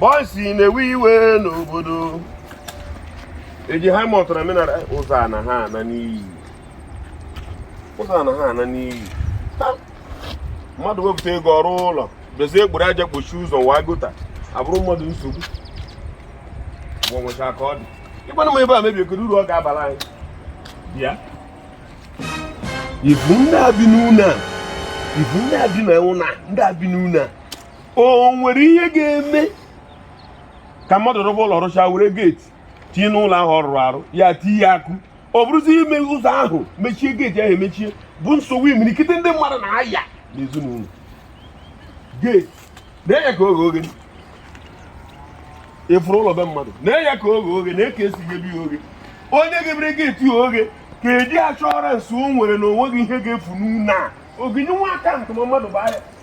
bọịsị na-ewe iwe n'obodo eji ha mọtara menara ụzọ a na ha ana n'iyi ụzọ a na ha ana n'iyi mmadụ wepụta ego rụọ ụlọ bezie e buru aja kpochie ụzọ wa gota abụrụ mmadụ nsogbu gbanwecha ka ọ dị ịgbanụ m ebe a mebie kedu uru ọ ga-abara anyị bịa ị fụ ndị a bi n'ụlọ a ị fụ ndị a bi na ụlọ a ndị a bi n'ụlọ a o nwere ihe ga-eme ka mmadụ rụba ụlọ rụcha were geeti tinye n'ụlọ ahụ ọ rụrụ arụ ya tinye akụ ọ bụrụzi ime ụzọ ahụ mechie geeti ahụ emechie bụ nsogbu imirikiti ndị mmadụ na-aya n'ezinụlọ geeti na-egheka oghe ị fụrụ ụlọ be mmadụ na-egheka oghe na-eke esi ebi ya oge onye ghebere geeti ya oghe ka e ji assurance o nwere na o nweghị ihe ga-efu n'ụlọ a oginye nwa aka ntụma mmadụ bụ ahịa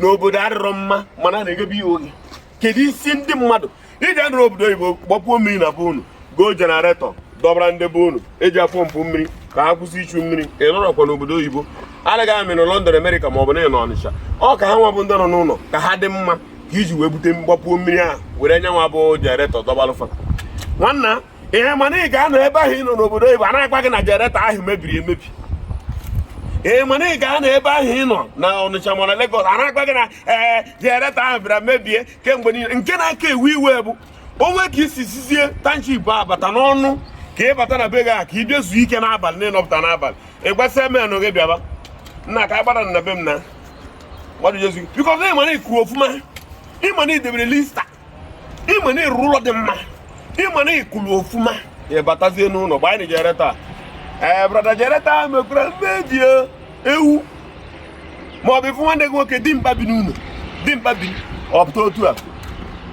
n'obodo adịrọ mma mana na-eghebe ya oghe kedu isi ndị mmadụ iji dịrị obodo oyibo gbapuo mmiri na be unu goo jenaretọ dọbara ndị be unu eji apọmpụ mmiri ka ha kwụsị ichu mmiri ị nọrọkwa n'obodo oyibo anaghị amị na London Amerịka ma ọ bụ na ị nọ Ọnịcha ọ ka ha nwa bụ ndị nọ n'ụlọ ka ha dị mma ka i ji wee bute gbapuo mmiri ahụ were nyanwa bụ jenaretọ dọbalụ fa nwanna ihe mana ị ga-anọ ebe ahụ ị nọ n'obodo oyibo a na-agwa gị na jenereta ahụ mebiri emebi ee mana ị ga-anọ ebe ahụ ị nọ na Ọnịcha ma na Legọs a na-agwa gị na ee eh, jenereta ahụ bịara mebie kemgbe niile nke na-aka ewu iwe bụ o nwee ka i si sizie township bata n'ụnọ ka ị bata na be gị a ka ị bịa zuo ike n'abalị na ị nọpụta n'abalị ị gbasịa menụ gị bịaba nna ka a gbara na be m na bikọs ị ma na ị kwụ ọfụma ị ma na i debere Lister ị ma na ị rụrụ ụlọ dị mma ị ma na ị kwụrụ ọfụma ị batazie n'ụlọ gbanye jenereta ee eh, brada jenereta mekwara mmebi ewu ma ọ bụ ị fụ nwanne gị nwoke dimkpa bi n'ụlọ dimkpa bi ọ pụta otu a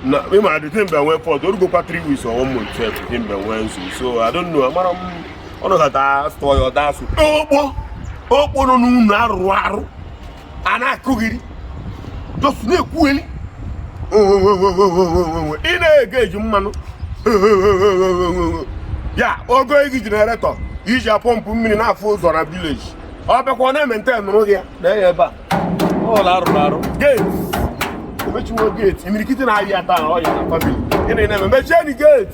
na ị ma dị dimkpa nwee fault o rugokwa 3 weeks or 1 month dimkpa nwee nzu so I don't know amarọ m ọnụ ha daa stọọ ya ọ da-asụ okpo okpo nọ n'ụlọ a rụrụ arụ a na-akọgheri just na-ekwugheri ị na-ege e ji mmanụ ya ogo igi jeneretọ iji apọmpụ mmiri na-afụ ụzọ na vileji ọ bịakwa ọ na-ementenụrụ gị ya na ya ebe a ụlọ a rụrụ arụ gate emechiwo gate imirikiti na-aya taa ọya na famili gịnị na-eme mechie ni gate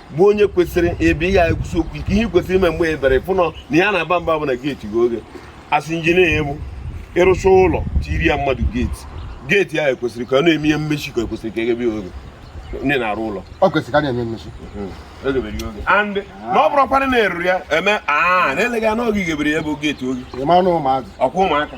bụ onye kwesịrị ebe ihe anyị kwusi okwu ike ihe kwesịrị ime mgbe ebere fụnọ na ya na-aba mba bụ na geeti ghe oghe a sị injinia egbu ịrụcha ụlọ tiri ya mmadụ geeti geeti ya ekwesịrị ka ọ na-eme ihe mmechi ka ekwesịrị ka e ghebe oghe ndị na-arụ ụlọ ọ kwesịrị ka a na-eme mmechi and na ọ bụrụkwana na-eruru ya eme a na eleghị anya ọ gị ghebere ya bụ geeti oghe ọkwa ụmụaka